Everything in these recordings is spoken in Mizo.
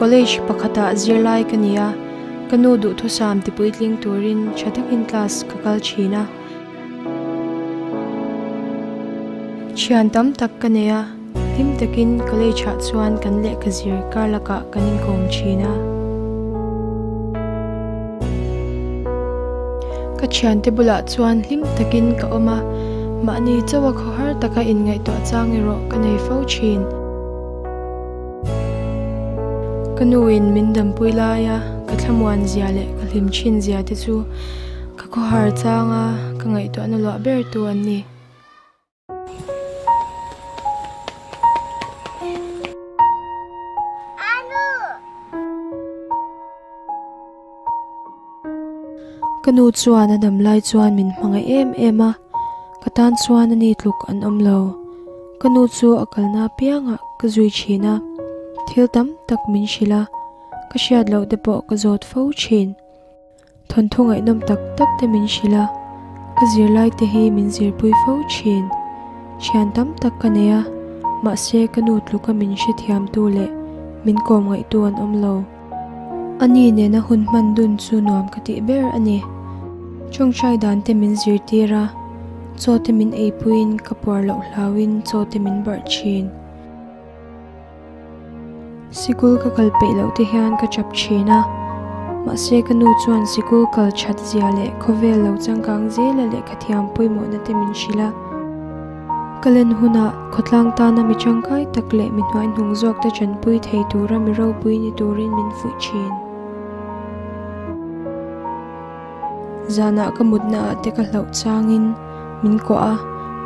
College pakhatah zirlai ka ni a, ka nu duhthusam tipuitling turin tha takin class ka kal thin a. Thian tam tak ka nei a. Hlim takin college ah chuan kan lehkha zir kar lakah kan inkawm thin a. Ka thiante bulah chuan hlim takin ka awm a, mahni chauh a khaw har taka inngaihtuah chang erawh ka nei fo thin. Ka nu in min dampui lai a, ka thlamuan zia leh ka hlim thin zia te chu ka khaw har chang a ka ngaihtuahna luah ber tu an ni. Ka nu chuan a dam lai chuan min hmangaih em em a, ka tan chuan ani tluk an awm lo. Ka nu chu a kalna apiangah ka zui thin a, thil tam tak min hrilh a, ka hriat loh te pawh ka zawt fo thin. Thawnthu ngaihnawm tak tak te min hrilh a, ka zirlai te hi min zirpui fo thin. Thian tam tak ka nei a, mahse ka nu tluka min hrethiamtu leh min kawm ngaihtu an awm lo. Ani nena hun hman dun chu nuam ka tih ber a ni. Ṭawngṭai dan te min zirtir a, chaw te min eipuiin ka puar loh hlauin chaw te min barh thin. Sikul ka kal peih loh te hian ka chap thin a, mahse ka nu chuan sikul kal that zia leh khawvel lo changkang zela lehkha thiam pawimawhna te min hrilh a. Ka len hunah khawtlang tana mi changkai tak leh mi hnuaihnung zawk te chanpui thei tura mi ropui ni turin min fuih thin. Zanah ka mutna ah te ka hlauh chang in min kuah a,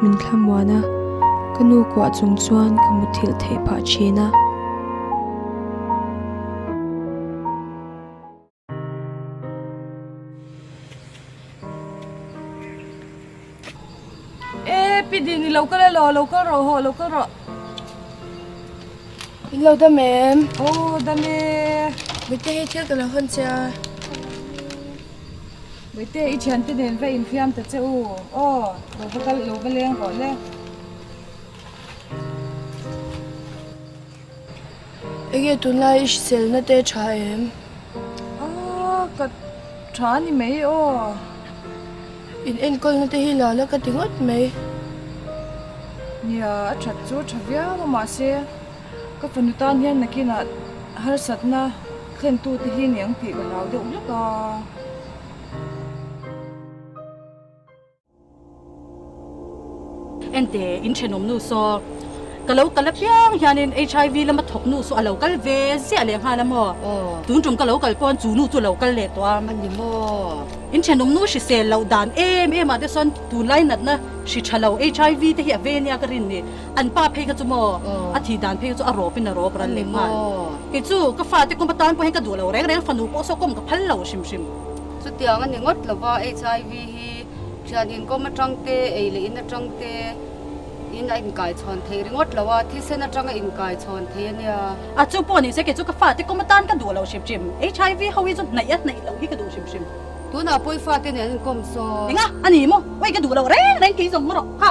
min thla muan a. Ka nu kuah chung chuan ka mutthilh theih phah thin a. E pi din i lo kal e law, lo kal rawh haw, lo kal rawh. I lo dam em? Aw dam e. Bawihtei hei thil ka lo han che a. Bawihtei i thiante nen va infiam ta che u aw, lo va kal, lo va leng rawh le. Enge tunlai i hrisel na te tha em? Aa ka tha a ni mai aw. In enkawl na te hi la la ka ti ngawt mai. Nia a that chu tha viau a mahse ka fanu tan hian nakinah harsat na thlen tu te hi niang tih ka hlau deuh hlek a. Engte in thenawm nu saw? Ka lo kal apiang hianin HIV lama thawk nu saw a lo kal ve ziah leh nghal a maw? Tun tum ka lo kal pawn chu nu chu a lo kal leh tawh a. A ni maw? In thenawm nu hrisel loh dan em em ah te sawn tunlai natna hri tha lo HIV te hi a ve nia ka rin ni. An pa phei kha chu maw? A thih dan phei kha chu a rawpin a rawp ral leh nghal. Kei chu ka fate kawm atan pawh hian ka duh lo reng reng, fanu pawh saw kawm ka phal lo hrim hrim. Chutiang a ni ngawt lova HIV hi Hi thianin kawm atang te, ei leh in atang te in a inkai chhawn theih ringawt lo a, thil sen atang a inkai chhawn theih a nia. A chu pawh ni se, kei chu ka fate kawm atan ka duh lo hrim hrim. HIV ho hi chu hnaih a hnaih loh hi ka duh hrim hrim. Tunah pawi fate nen an kawm saw. Enga a ni maw? Oi ka duh lo reng reng keizawng maw rawh, ha.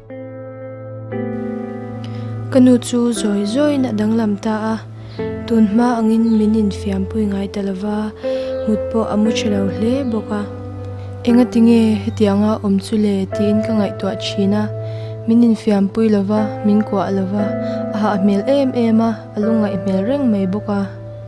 Ka nu chu zawi zawin a danglam ta a, tunhma angin min infiampui ngai ta lova, mut pawh a mu ṭha lo hle bawk a. Engatinge hetiang a awm chu le tiin ka ngaihtuah ṭhin a, min infiampui lova, min kuah lova, a hah hmel em em a, a lungngaih hmel reng mai bawk a.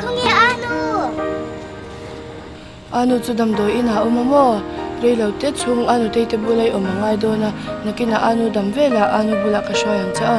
Khawnge a nu? A nu chu damdawi inah a awm maw? Reilo te chung a nu Teite bulah i awm a ngai dawn a, nakinah a nu dam velah a nu bulah ka hruai ang che a.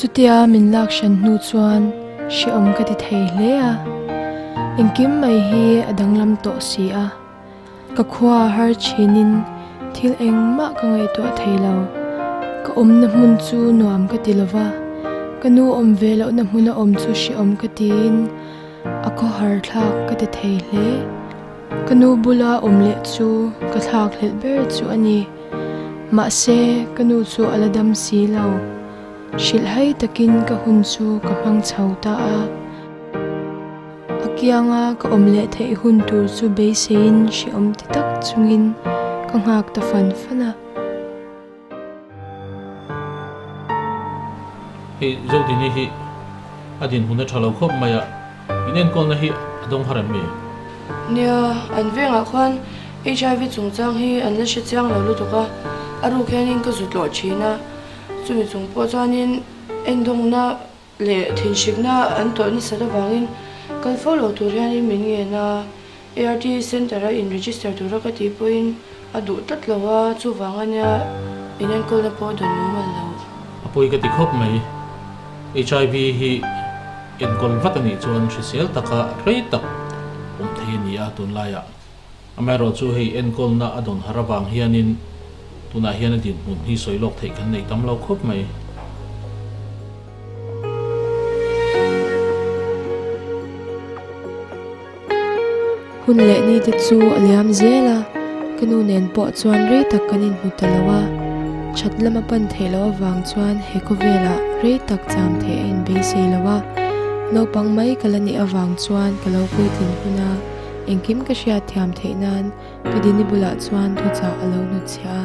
Chutia min lak hran hnu chuan hreawm ka ti thei hle a, engkim mai hi a danglam tawh si a, ka khua har chinin thil engmah ka ngaihtuah thei lo, ka awmna hmun chu nuam ka ti lova, ka nu awm ve lohna hmun a awm chu hreawm ka tiin a khawhar thlak ka ti thei hle. Ka nu bula awm leh chu ka thlak hlet ber chu a ni. Mahse, ka nu chu a la dam si lo. Hrilh hai takin ka hun chu ka hmang chho ta a. A kianga ka awm leh theih hun tur chu beiseiin hrehawm ti tak chungin ka nghak ta fan fan a. Hei, Zodini hi a dinhmun a tha lo khawp mai a. In enkawnna hi a dawng har em e? Nia, an vengah khuan HIV chungchang hi an la hre chiang lo lutuk a, a ruk hianin ka zu tlawh thin a, chumi chung pawh chuanin engdawngna leh thinhrikna an tawlh nasat avangin kal fo lo tur hianin min ngen a. ART Centre-a in register tura ka tih pawhin a duh tlat lo a, chuvanga nia in enkawlna pawh a dawn lo mal lo. A pawi ka ti khawp mai. HIV hi enkawl vat a nih chuan hrisel taka hlei tak awm thei a ni a, tunlaiah amaherawh chu hei enkawlna a dawn har avang hianin tunah hian a dinhmun hi sawi lawk theih kan nei tam lo khawp mai. Hun leh ni te chu a liam zel a, ka nu nen pawh chuan rei tak kan inhmu ta lo a, that lama pan theih loh avang chuan he khawvelah rei tak cham thei a inbeisei lo a, naupang mai ka la nih avang chuan ka lo puitlin hun a, engkim ka hria thiam theih nan ka din i bulah chuan thuchah a lo hnutchhiah a.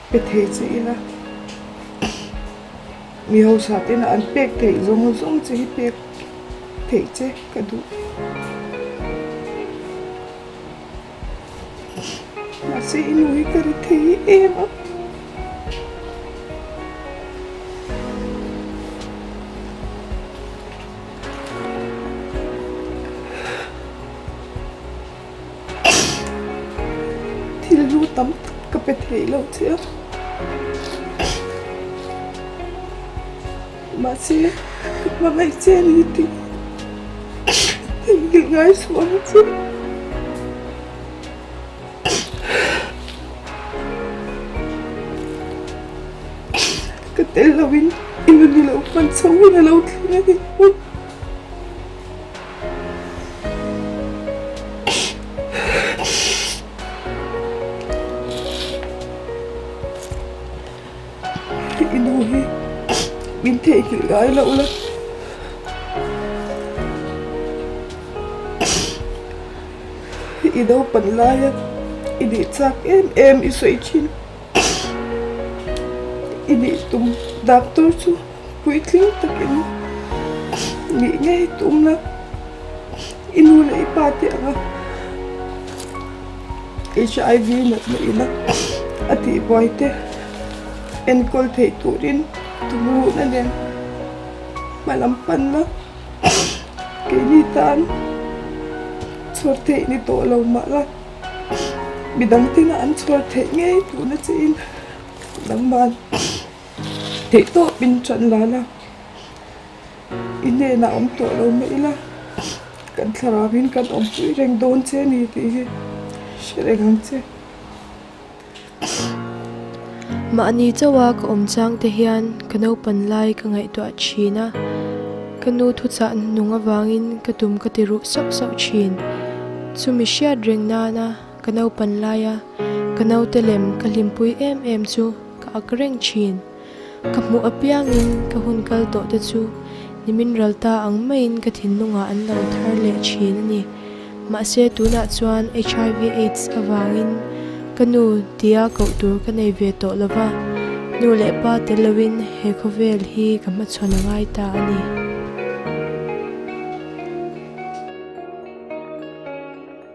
Pe thei chi ila mi hausa te lah an pek theih zawng zawng chu hi pek theih che ka duh mahse i nu hi ka ri thei em a. thil lu tam tak ka pe thei lo che a mahse ka hmangaih che ni tih theihilh ngai suh ang che ka tel lo in i nu nilo hman chhoh in a lo tling a ni. I nu hi min theihnghilh ngai loh la. I naupang laia i dih chak em em i sawi thin. i nih tum dap tur chu puitling takin nih ngei tum la i nu leh i pa te anga hiv natna ila a tihbuai te enkawl theih turin tumluhna nen hmalam pan la keini tan chhuak theih ni tawh lo mah la. midang tinah an chhuar theih ngei tuhna chiin nangmahn theihtawpin ṭan la la, i hnenah awm tawh lo mah ila, kan thlarauin kan awmpui reng dawn che ni tih hi hre reng ang che. Mahni chauha ka awm chang te hian ka naupan lai ka ngaihtuah thin a, ka nu thuchah nung avangin ka tum ka ti ruh sauh sauh thin. Chumi hriat reng nana ka naupan laia ka naute lem ka hlimpui em em chu ka ak reng thin. Ka hmuh apiangin ka hun kal tawhte chu nimin ral ta ang maiin ka thinlungah an lo thar leh thin a ni. Mahse tunah chuan HIV aids avangin ka nu tia koh tur ka nei ve tawh lova, nu leh pa tel loin he khawvel hi ka hmachhawn a ngai ta a ni.